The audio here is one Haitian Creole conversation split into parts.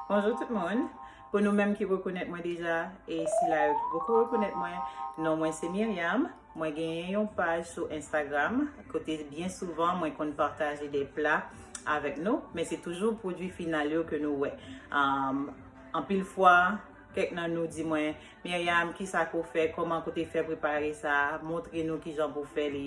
Bonjour tout moun, pou nou menm ki rekonèt mwen deja e sila yo ki poko rekonèt mwen, non mwen se Myriam, mwen genyen yon paj sou Instagram kote byen souvan mwen konn pataje de pla avèk nou, men se toujou pwodwi final yo ke nou wè. Anpil fwa, kèk nan nou di mwen, Myriam, kisa ke w fè, kòman ke w te fè prepare sa, montre nou kijan pou w fè li.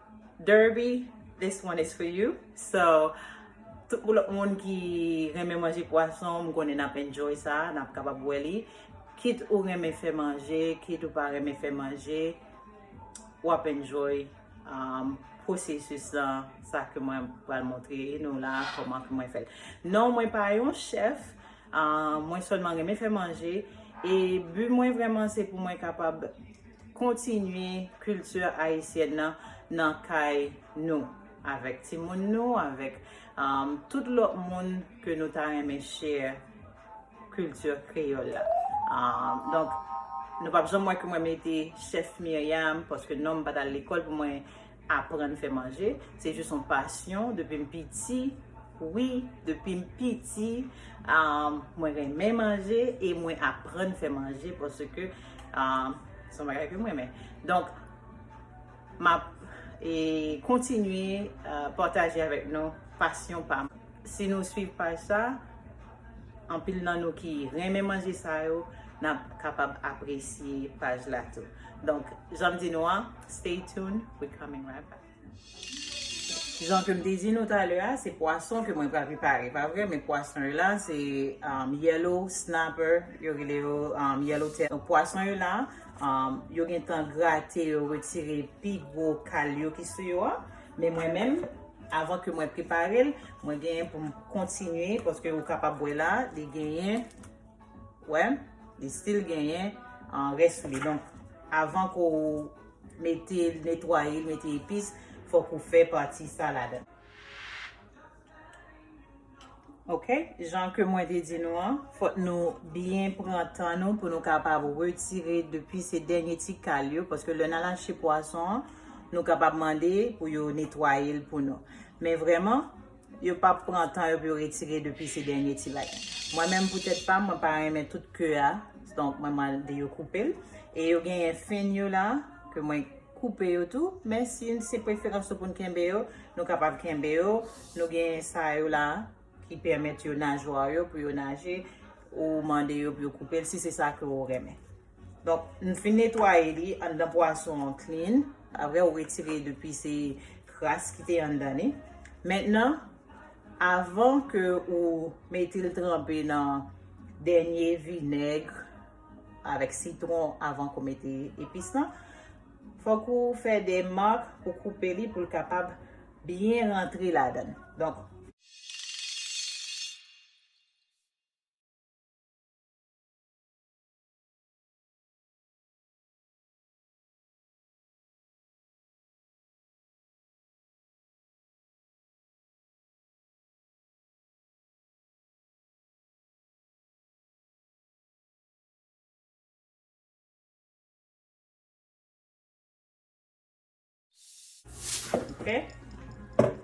Derby this one is for you so tout pou lòt moun ki renmen manje pwason m konnen nap enjoy sa nap kapab wè li kit ou renmen fè manje kit ou pa renmen fè manje wap enjoy pwosesis lan sa ke mwen pral montre nou la kòman ke mwen fèl non mwen pa yon chèf Mwen sèlman renmen fè manje e bi mwen vrèman se pou mwen kapab kontinye kilti ayisyèn nan nan kay nou avèk timoun nou, avèk tout lòt moun ke nou ta renmen share kilti kreyòl la. Donk nou pap janm wè ke mwen mete chèf Myriam paske non m pa t al lekòl pou mwen aprann fè manje se jis yon pasyon depim piti wi depim piti mwen renmen manje e mwen aprann fè manje paske se yon bagay kem renmen donk map kontinye pataje avèk nou pasyon pam si nou swiv paj sa. Anpil nan nou ki renmen manje sa yo, nap kapab apresye paj la tou. Donk, janm di nou an, stay tune, we coming right back. Jan kem te di nou talè a, se pwason ke mwen pral prepare, pa vre? Men pwason yo la, se yellow snapper, yo rele yo yellow tail. Donk, pwason yo la, yo gentan grate yo, retire pi gwo kal yo ki sou yo a. Men mwen menm, avan ke mwen prepare l, mwen genyen pou m kontinye, paske ou kapab wè la, li genyen, wè, li stil genyen an rès sou li. Donk, avan ke ou mete, netwaye, mete epis, fòk ou fè pati sa ladan. Ok, jan ke mwen te di nou an, fòk nou byen pran tan nou pou nou kapab retire depi se dènye ti kal yo, paske lè nan lache pwason an, nou kapab mande pou yo netwaye l pou nou. Men vreman, yo pa pran tan yo pou yo retire depi se dènye ti bagay. Mwen menm pou tèt pa m, mwen pa renmen tout ke a, donk mwen mande yo koupe l. E yo genyen fen yo la, ke mwen koupe yo tou men si se preferans ou pou n kenbe yo nou kapab kenbe yo nou gen sa yo la ki pèmèt yo najwa w yo pou yo naje ou mande yo pou yo koupe l si se sa ke ou renmen donk m fin netwaye li anndan pwason an klin apre ou retire depi se kras ki te anndan li mentnan avan ke ou mete l tranpe nan dènye vinèg Avèk sitron avank ou mete epis lan. Fòk ou fè de mark pou koupe li pou l kapab byen rantre ladan l. Donk.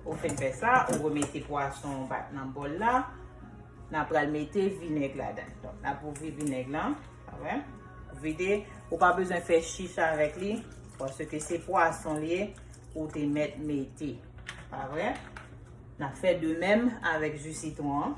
Ou fèn fè sa, ou wè mète pwason ou bat nan bòl la. N ap pral mète vinèg la dan. Donk, n ap ouvri vinèg la. A wè? Ou vide. Ou pa bezwen fè chich avèk li. Pwase ke se pwason li e, ou te mèt mète. A wè? N ap fè de mèm avèk ju sitwon an.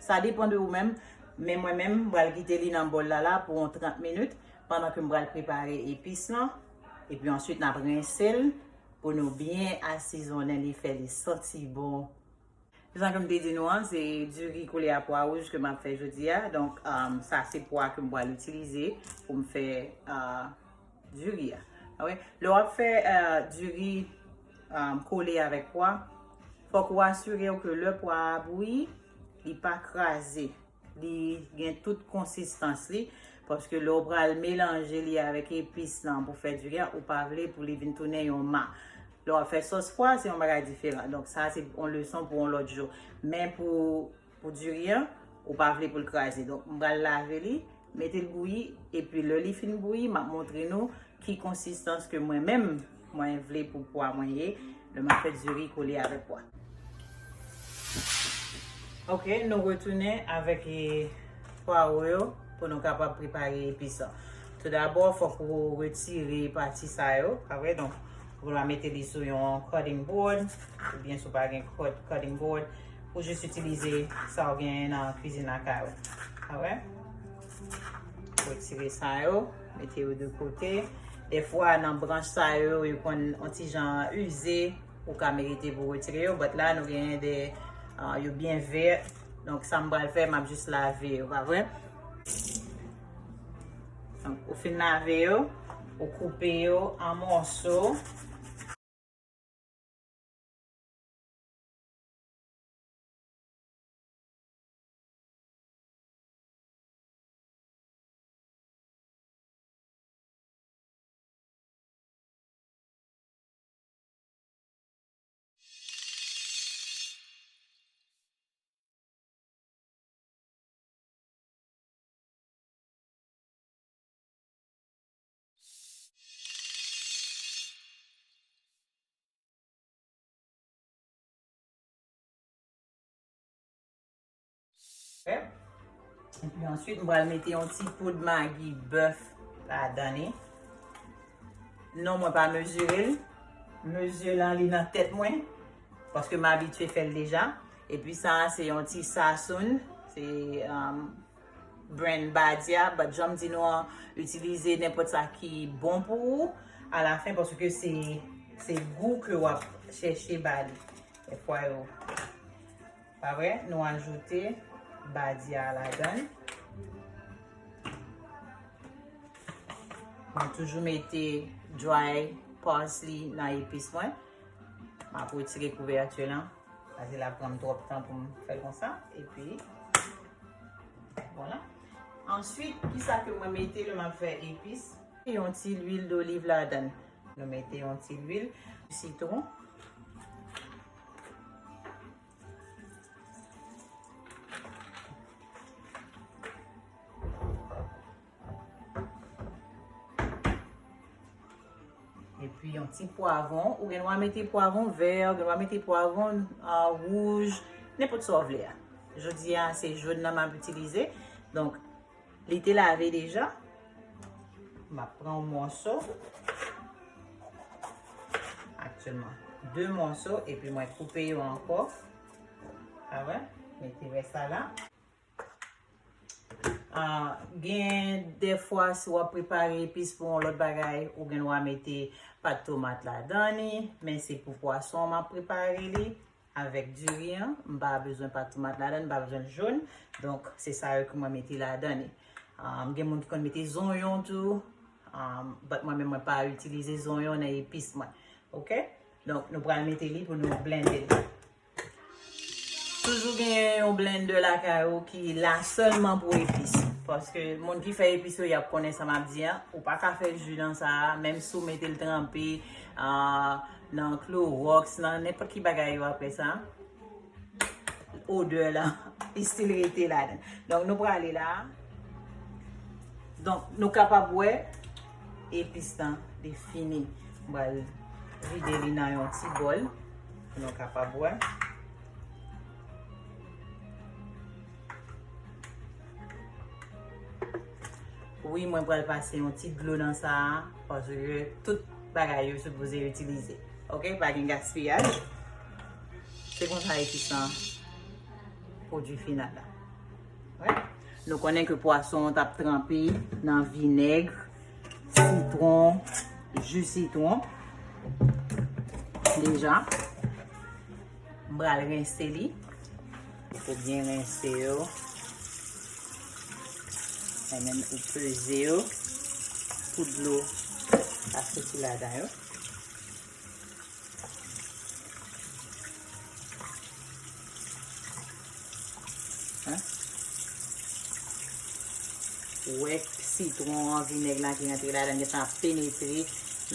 Sa depan de ou menm, men mwen menm m pral kite li nan bòl la la pou yon 30 minit pandan ke m pral prepare epis lan epi answit nap rense l pou nou byen asizonnen li fè li santi bon. Jan ke m te di nou an se diri koulè a pwa wouj ke map fè jodia donk sa se pwa ke m pral itilize pou m fè Du riz a. Alright. Lè w ap fè du riz kole avèk pwa, fòk ou asire w ke lè pwa a bouyi, li pa kraze. Li gen tout konsistans li. Paske lè w pral melanje li avèk epis lan pou fè du riz a, ou pa vle pou li vin tounen yon ma. Lè w ap fè sòs pwa, se yon bagay diferan. Donk sa se yon leson pou yon lòt jou. Men pou. Pou diri an, ou pa vle pou l kraze. Donk, m pral lave li, mete l bouyi, epi lè li fin bouyi, m ap montre nou ki konsistans ke mwen menm, mwen vle pou pwa mwen ye, lè m ap fè diri kole avèk pwa. Ok, nou retounen avèk pwawo yo pou nou kapab prepare epis lan. Tou dabò, fòk ou retire pati sa yo, pa vre? Donk. Pou la mete li sou yon cutting board, ou byen sou pa gen cutting board, ou jis itilize sa ou gen nan kwizin lakay ou. A wè? Ou etire sa yo, mete yo de kote. De fwa nan branch sa yo, yo kon an ti jan uze, ou ka merite pou etire yo. But la nou gen de, yo byen vert. Donk sa m bal fè, m ap jis lave yo, pa vre? Ou fin lave yo, ou koupe yo an mòso. Epi answit m pral mete yon ti poud magi bèf la dan li. Non mwen pa mezire l. Mezi lan li nan tèt mwen. Paske m abitye fè l deja. Epi sa a se yon ti Sasoun, se brand Badia, but janm di nou an, itilize nenpòt sa ki bon pou ou a la fen paske se gou ke wap chèche ba li. Fè pwa yo. Pa vre? Nou ajoute Badia a ladan. Mwen toujou mete dry parsley nan epis mwen. Mwen ap wetire kouvèti lan. Pase la pranm trop tan pou m fèl konsa. E pi. Voila. Answit, ki sa ke mwen mete lè m ap fè epis? Yon ti lwil doliv ladan. Nou mete yon ti lwil. Sitron. Epi yon ti pwavon, ou gen dwa mete pwavon vè, ou gen dwa mete pwavon wouj, nenpot sa ou vle a. Jodi a, se joun nan m ap itilize. Donk, li te lave deja. M ap pran yon mòso. Aktyenman, 2 mòso, epi mwen koupe yo ankò. Sa vè? Mete vè sa la. Ah, gen defwa si wap prepare epis pou yon lot bagay, ou gen dwa mete pat tomat la dan ni, men se pou pwason an map prepare li, avek diri an, m pa bezwen pat tomat la dan, m pa bezwen l joun, donk se sa yo ke mwen mete la dan ni. Ah, gen moun ki konn mete zonyon tou, ah, bat mwen men mwen pa itilize zonyon nan epis mwen. Ok? Donk nou pral mete li pou nou blende li. Toujou gen yon blender lakay ou ki la sèlman pou epis. Paske moun ki fè epis yo yap konnen sa map di an. Ou pa ka fè ju nan sa a, menm si w mete l tranpe nan klorox, nan nenpòt ki bagay yo apre sa, odè la estil rete ladan. Donk nou prale la. Donk nou kapab wè Epis lan li fini. M pral vide li nan yon ti bòl pou nou kapab wè. Wi mwen pral pase yon ti dlo nan sa a paske tout bagay yo sipoze itilize. Ok, pa gen gaspiyaj. Se konsa epis lan pwodui final la. Nou konnen ke pwason an tap tranpe nan vinèg, sitron, ju sitron. Deja, m bral rense li. Fou byen rense yo. E menm ou peze yo. Pou dlo a soti la dan yo. Wè sitron an, vinèg la ki antre la dan gen tan penetre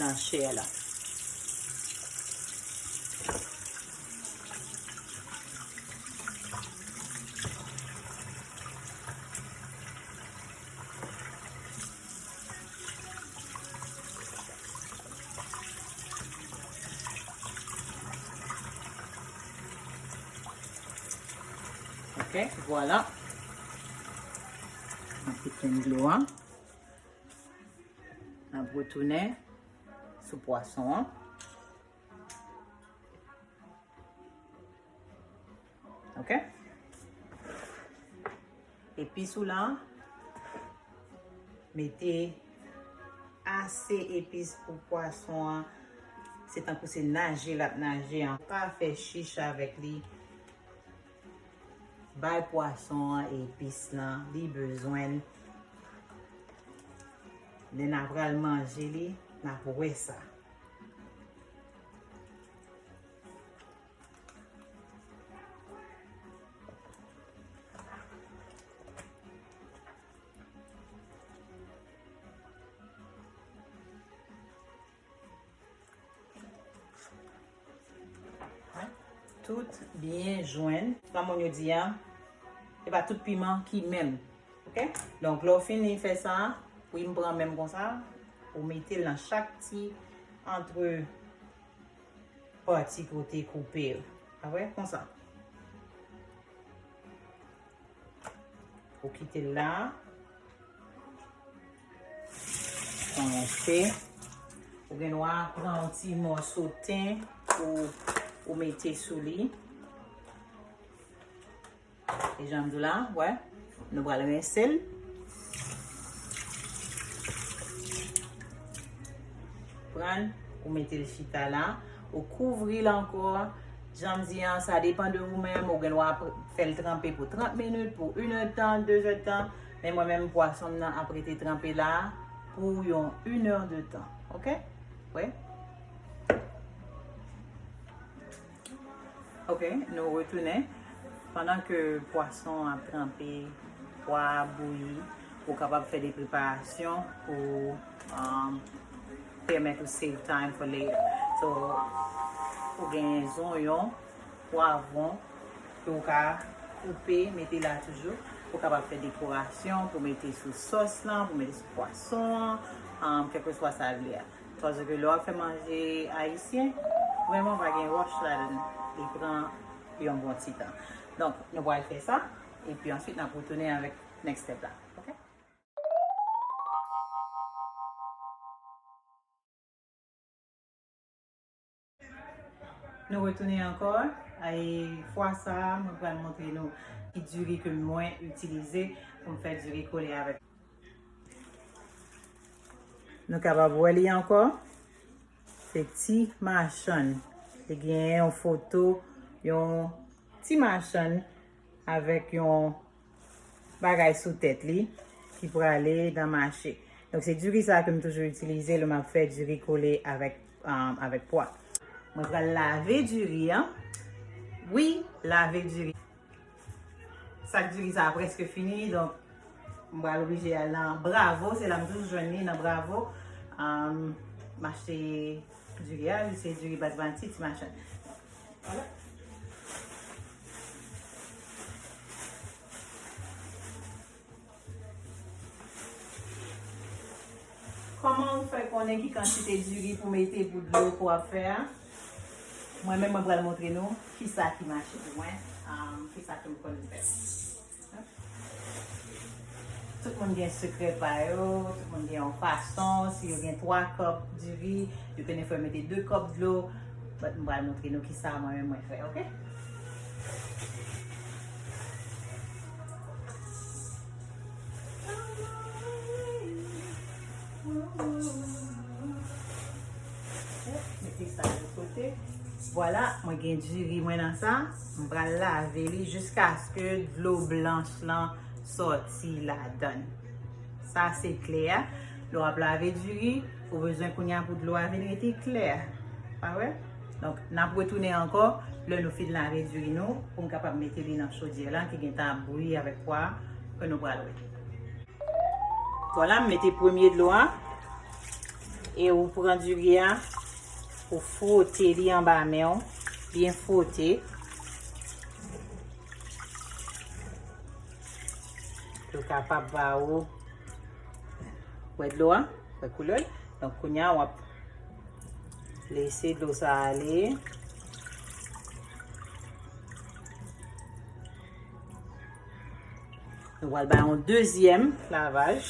nan chè la. Ok, vwala. An pou ten dlo an. An pou tounen sou pwason an. Ok. Epis ou lan. Mete ase epis pou pwason an. Se tankou se naje lap naje an. Pa fe chich avek li. Bay pwason an epis lan. Li bezwen. Nen na pral manje li. Na pou we sa. Tout byen jwenn. Nan moun yo di ya, e pa tout piman ki menm. Ok? Donk, lò w fini fè sa, pou yon pran menm konsa, ou mete l nan chak ti antre. pati pou te koupe l. Pa vre? Konsa. Ou kite l la. Konse. Ou gen dwa pran yon ti mòso ten pou ou mete sou li. E jan m di w la, wè, nou pral rense l. Pran, ou mete l chita la, ou kouvri l ankò. Jan m di an, sa depan de ou menm, ou gen dwa fè l tranpe pou 30 minit, pou 1 è tan, 2 è tan. Men mwen menm pwason m nan ap rete tranpe la pou yon 1 è de tan. Ok? Wè? Ok nou retounen pandan ke pwason an ap tranpe pwa a ap bouyi ou kapab fè de preparasyon pou pèmèt ou save time for later so ou gen zonyon pwavron ke ou ka koupe mete la toujou ou kapab fè dekorasyon pou mete sou sòs lan pou mete sou pwason an kèlkeswa sa vle a. Paske lè wap fè manje ayisyen, vrèman pa gen rush ladan li. Li pran yon bon ti tan. Donk nou pral fè sa, epi answit nap retounen avèk next step la. Nou retounen ankò e fwa sa mwen pral montre nou ki diri ke mwen itilize pou m fè diri kole avèk. Nou kapab wè li ankò, se ti machann. Li gen yon foto yon ti machann avèk yon bagay sou tèt li ki prale nan mache. Donk se diri sa ke m toujou itilize lè m ap fè diri kole avèk pwa. Mwen pral lave diri an. Wi, lave diri. Sak diri sa a prèske fini, donk m pral oblije al nan Bravo. Se la m toujou jwenn li, nan Bravo. M achte diri a, se diri basmati ti machann. Koman ou fè konnen ki kantite diri pou mete pou dlo ke w ap fè a? Mwen menm mwen pral montre nou kisa ki mache pou mwen, kisa ke m konn fè. Tout moun gen sekrè pa yo, tout moun gen yon fason, si yo gen 3 kòp diri, yo konnen fò yo mete 2 kòp dlo, but m pral montre nou kisa mwen menm mwen fè, ok. Mete sa de kote, vwala mwen gen diri mwen nan sa. M pral lave li jiskaske dlo blanch lan sòti ladann. Sa se kle a. Lè w ap lave diri, ou bezwen kounye a pou dlo a vin rete klè. Pa wè? Donk, n ap retounen ankò lè nou fin lave diri nou pou n kapab mete li nan chodyè la ki gen tan ap bouyi avèk pwa a ke nou pral wè. Vwala, m mete premye dlo a. E ou pran diri a. Ou fwote li anba men w, byen fwote. Pou l kapab ba ou, wè dlo a, wè koulè l. Donk kounye a w ap lese dlo sa ale. Nou wal bay yon dezyèm lavaj.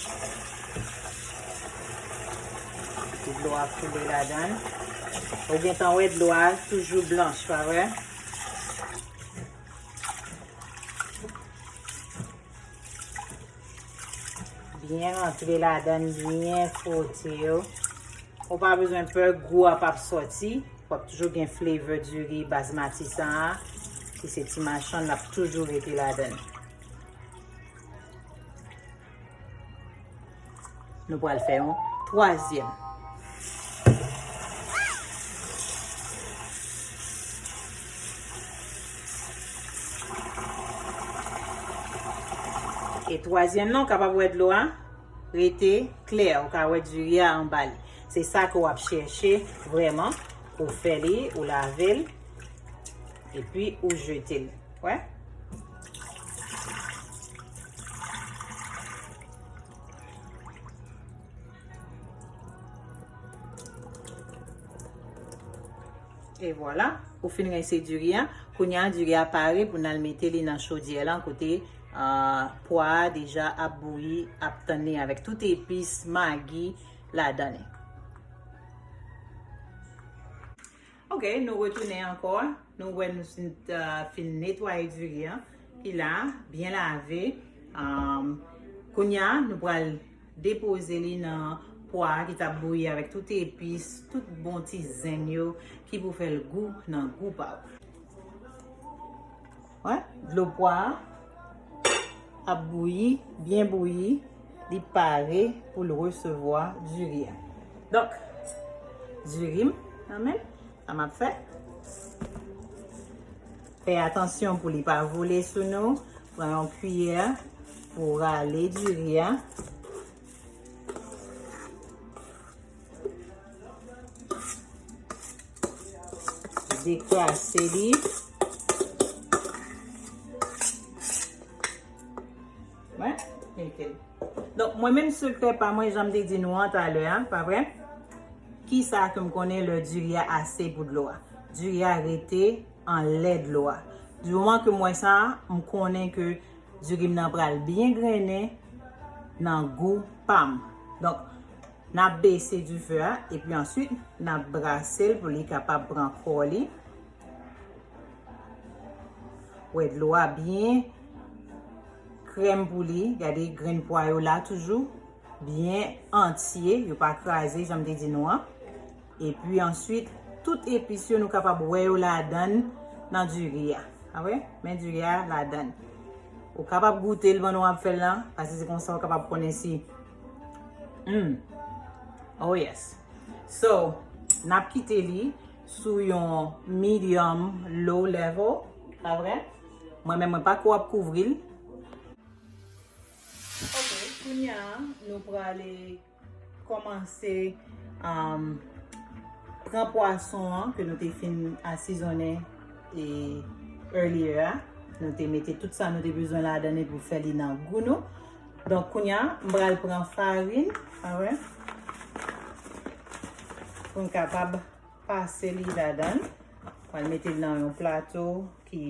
Pou dlo a koule la dan. Ou gen tan wè dlo a toujou blanch, pa wè? Byen rantre ladan l, byen fwote yo. Ou pa bezwen pè gou a pap soti. Wap toujou gen flavor diri basmati sa a. Ki se ti machann lap toujou rete ladan l. Nou pral fè yon twazyèm. E twazyèm nan ou kapab wè dlo a rete klè, ou ka wè diri a anba li. Se sa ke w ap chèche vrèman, ou fè li, ou lave l, epi ou jete l. Wè? E vwala, ou fin rense diri a. Kounye a, diri a pare pou nan mete li nan chodyè lan kote pwa a deja ap bouyi, ap tann li avèk tout epis, magi ladan li. Ok nou retounen ankò nou wè nou ta fin netwaye diri an ki la byen lave kounya nou pral depoze li nan pwa ki tap bouyi avèk tout epis tout bon ti zen yo ki pou fèl gou nan gou pa ou. Wè, dlo pwa a ap bouyi, byen bouyi, li pare pou l resevwa diri a. Donk, diri m nan men, sa m ap fè, fè atansyon pou li pa vole sou nou, pran yon kiyè pou w rale diri a. Dekrase li. Mwen, mwen. Donk mwen menm sekrè pa mwen janm de di nou an talè an, pa vre? Ki sa ke m konnen lè diri a ase pou dlo a? Diri a rete an lè dlo a. Di moman ke mwen sa, m konnen ke diri m nan pral byen grennen nan gou pa m. Donk. Nap bese du feu a epi answit nap brase l pou li kapab pran kò li. Wè dlo a byen krèm pou li. Gade grenn pwa yo la toujou. Byen antye, yo pa kraze janm te di nou an. Epi answit tout epis yo nou kapab wè yo ladan nan diri a. A wè, men diri a ladan. Ou kapab goute l pandan wap fè l lan. Pase se konsa ou kapab konnen si. Humm oh yes so nap kite li sou yon medium low level pa vre mwen men mwen pako ap kouvri l ok kounya nou prale komanse euh pran pwason an ke nou te fin asizonnen e earlier a nou te mete tout sa nou te bezwen ladan li pou fè li nan gou nou. Donk kounya m pral pran farin mwen pou m kapab pase li ladan. M pral mete l nan yon plato ki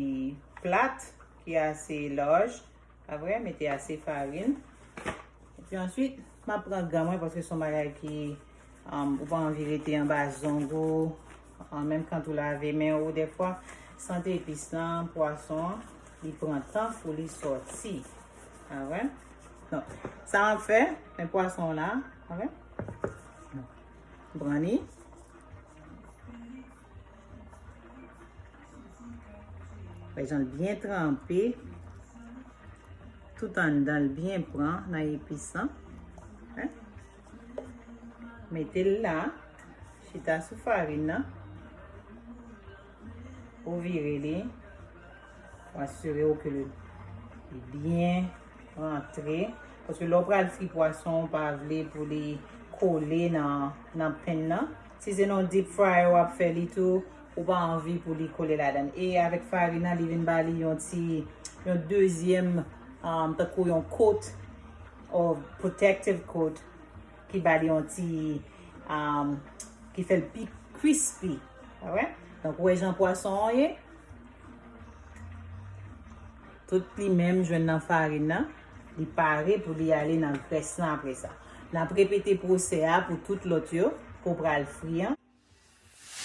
plat, ki ase laj. Apre, mete ase farin. Epi answit, m ap pran gan mwen paske son bagay ki Ou pa anvi rete anba zong ou, menm kant ou lave men ou defwa, sant epis lan, pwason an, li pran tan pou li soti. A wè? Donk, sa map fè, men pwason la, a wè? Pran li. Wè jan l byen tranpe, tout anndan l byen pran nan epis lan. Mete l la. Chita sou farin nan. Ou vire li. Ou asire ou ke li byen rentre. Paske lò pral fri pwason, ou pa vle pou li kole nan pen nan. Si se nan deep fryer wap fè li tou, ou pa anvi pou li kole la dan. E avèk farin nan, li vin ba li yon ti, yon dezyèm, tankou yon kot. or protective coat ki ba li yon ti um, ki fè l pi crispy. Alright? Donk wè jan pwason an ye. Tout li menm jwenn nan farin nan. Li pare pou li ale nan grès lan apre sa. N ap repete pwosè a pou tout lòt yo ke w pral fri an.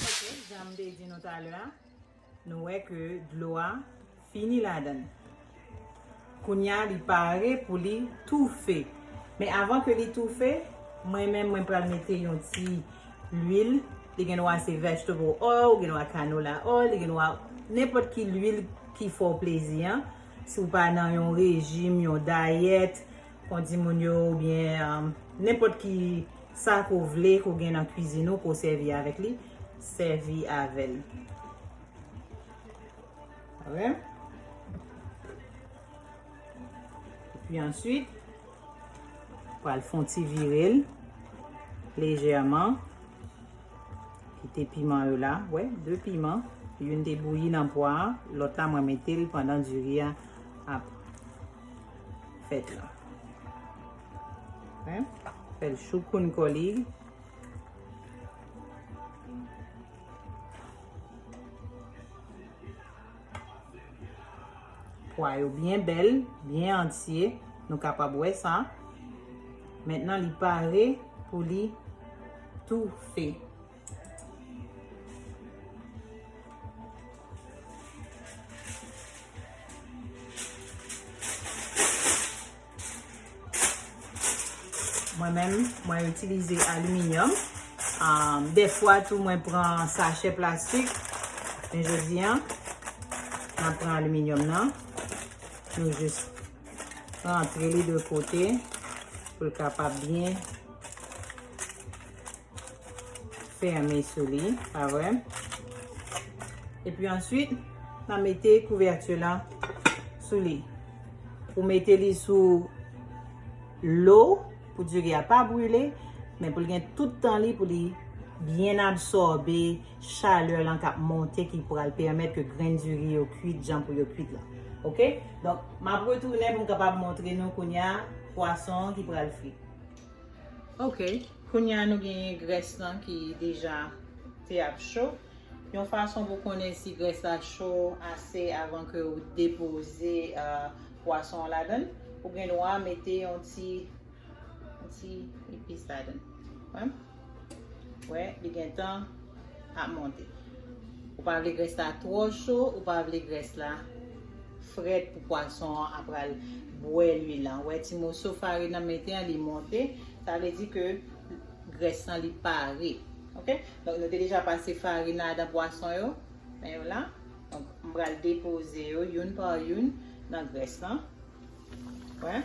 Ok janm te di nou talè a nou wè ke dlo a fini ladann kounya li pare pou li toufe men avan ke li toufe mwen menm mwen pral mete yon ti lwil li gen dwa se vegetable oil ou gen dwa canola oil li gen dwa nenpòt ki lwil ki fè w plezi an si w pa nan yon rejim yon dayèt Kondi moun yo oubyen nenpòt ki sa ke w vle ke w gen nan kwizin ou ke w sèvi avèk li, sèvi avè l. Alright. Epi answit, ou pral fon ti vire l lejèman. Kite piman yo la. Wè, 2 piman. Youn te bouyi nan pwa a. Lòt la mwen mete l pandan diri a ap fèt lan. Mwen fè l choukoun kò li. Pwa yo byen bèl, byen antye. Nou kapab wè sa. Mètnen li pare pou li toufe. Mwen menm, mwen itilize aliminyòm. De fwa tou mwen pran sachè plastik. Men je di an, mwen pran aliminyòm nan. Mwen jis pran antre li de kote. Pou l kapab byen. fèmen sou li, pa vre? E pi answit, nan mete kouvèti lan sou li. Ou mete li sou lo pou diri a pa brile, men pou li gen tout tan li pou li byen absorbe chalè lan kap monte ki pral pèmèt ke grenn diri yo kwit jan pou yo kwit lan. Ok? Donk, map retounen pou m kapab montre nou kounya pwason ki pral fri. Ok. Kounya nou genyen grès lan ki deja te ap cho. Yon fason pou konnen si grès la cho ase avan ke ou depoze pwason an ladann, ou gen dwa mete yon ti epis ladann. Ou wè li gentan ap monte. Ou pa vle grès la twò cho, ou pa vle grès la frèt pou pwason an ap pral bwè lwil lan. Ou wè ti moso farin nan m mete an li monte. Sa vle di ke grès lan li pare. Ok. Donk nou te deja pase farin nan adan pwason yo. Men yo la. Donk m pral depoze yo youn pa youn nan grès lan. Wè.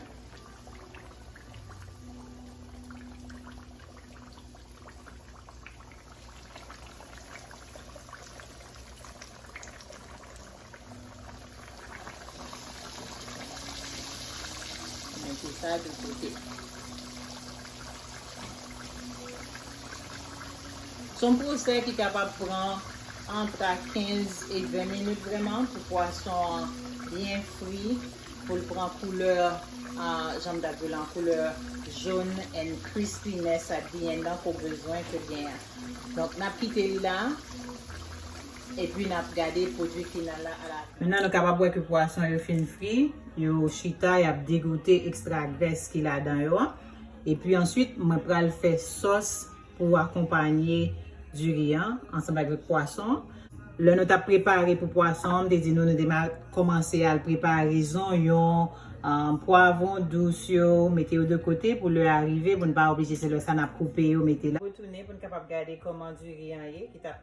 Mete sa de kote. Son pwosè ki kapab pran antra 15 e 20 minit vreman pou pwason an byen fri pou l pran koulè janm ta di lan koulè jòn and krispi nè sa byen nan ke w bezwen ke l genyen. Donk nap kite li la. epi n ap gade pwodui final la alafin. Mennen nou kapab wè ke pwason yo fin fri, yo chita y ap degoute ekstra grès ki ladan yo an. Epi answit mwen pral fè sòs pou akonpanye diri an ansanm avèk pwason an. Lè nou t ap prepare pou pwason an, m te di nou nou te mal kòmanse al prepare zonyon, pwavon dous yo, mete yo de kote pou lè a rive pou n pa oblije se lè sa n ap koupe yo mete la. Retounen pou n kapab gade kòman diri an ye ki t ap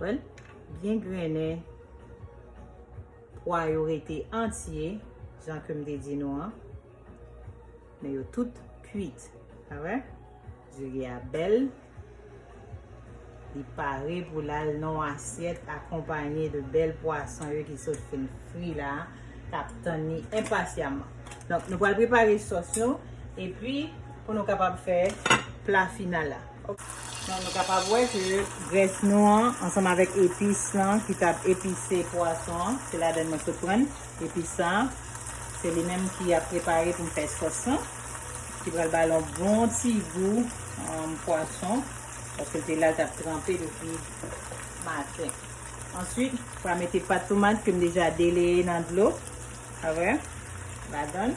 Wè l byen grennen. Pwa yo rete antye, jan ke m te di nou an. Men yo tout kuit. A wè? Diri a bèl. Li pare pou l al nan yon asyèt akonpanye de bèl pwason yo ki sot fin fri la. K ap tann li enpasyaman. Donk, nou pral prepare sòs nou. E pi, pou nou kapab fè pla final la. Donk nou kapab wè ke grès nou an ansanm avèk epis lan ki t ap epise pwason an, se ladann mwen sot pran epis sa a, se li menm ki ap prepare pou m fè sòs lan ki pral ba l yon bon ti gou pwason paske l te la l t ap tranpe depi maten. Answit, m pral mete pat tomat ke m deja deleye nan dlo, sa vre, ladann.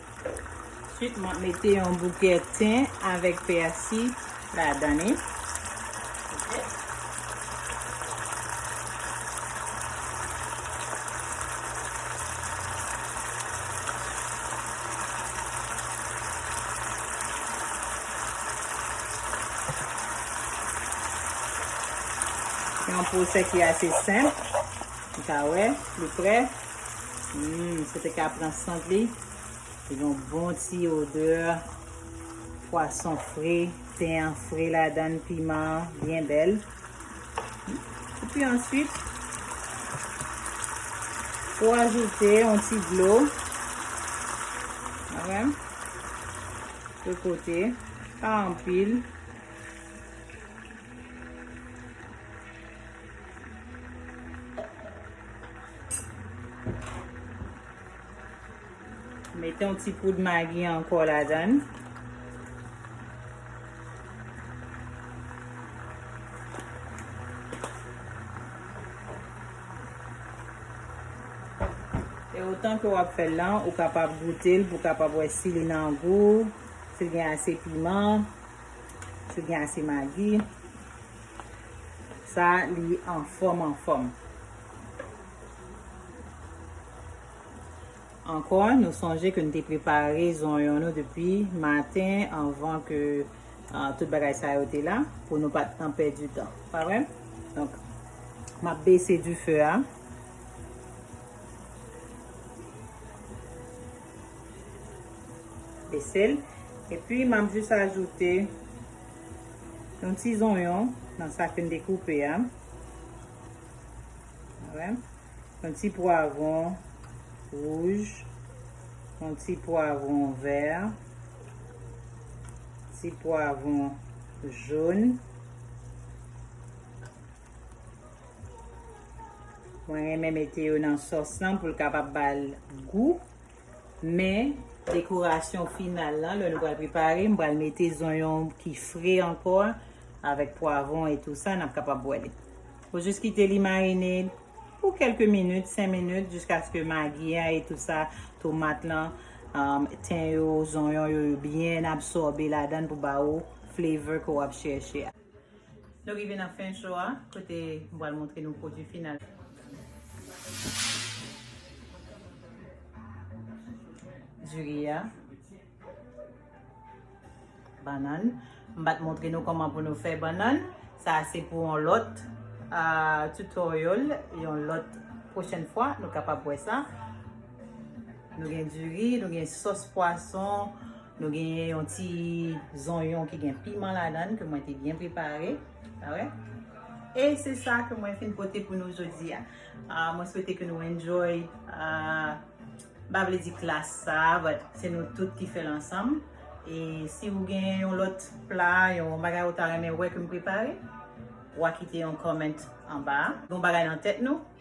Ensuite map mete yon bouke ten avek pèsi ladan li. Yon pwosè ki ase senp. Ou ka wè, li prè. Humm se te ka pran sant li Li gen yon bon ti odeur pwason fre, ten an fre ladan, piman an byen bèl. Epi answit ou ajoute yon ti dlo. Wè? Sou kote, pa anpil. Mete yon ti poud magi anko la dan. E otan ke wap fel lan, ou kapab goutel pou kapab we si li nan gou, si gen ase piman, si gen ase magi. Sa li anfòm anfòm. Ankò nou sonje ke nou te prepare zonyon nou depi maten anvan ke tout bagay sa yo te la pou nou pat nan pèdi tan. Pa vre? Donk, m ap bese dife a. Bese l. Epi m ap jis ajoute Yon ti zonyon nan sa ke m te koupe a. Yon ti pwavon wouj. Yon ti pwavon vè. Ti pwavon joun. Mwen renmen mete yo nan sòs lan pou l kapab ba l gou. Men, dekorasyon final lan, lè nou pral prepare, m pral mete zonyon ki fre ankò a, avèk pwavon e tou sa, n ap kapab bwè li. Ou jis kite li marine pou kèlke minit, 5 minit, jiskaske magi a e tou sa, tomat lan, ten yo, zonyon yo, yo byen absòbe ladan l pou ba ou flavor ke w ap chèche a. Nou rive nan fen show a kote m pral montre nou pwodwi final la. Diri a. Bannann. M pat montre nou kòman pou nou fè bannann. Sa a se pou yon lòt tutorial, yon lòt pwochèn fwa nou kapab wè sa. Nou gen diri, nou gen sòs pwason, Nou genyen yon ti zonyon ki gen piman ladan ke mwen te byen prepare. Sa wè? E se sa ke mwen fin pote pou nou jodi a. Mwen swete ke nou enjoy. Ba vle di klas sa, but se nou tout ki fè l ansanm. E si ou genyen yon lòt pla, yon bagay ou ta renmen wè ke m prepare, wa kite yon comment anba. Gon bagay nan tèt nou?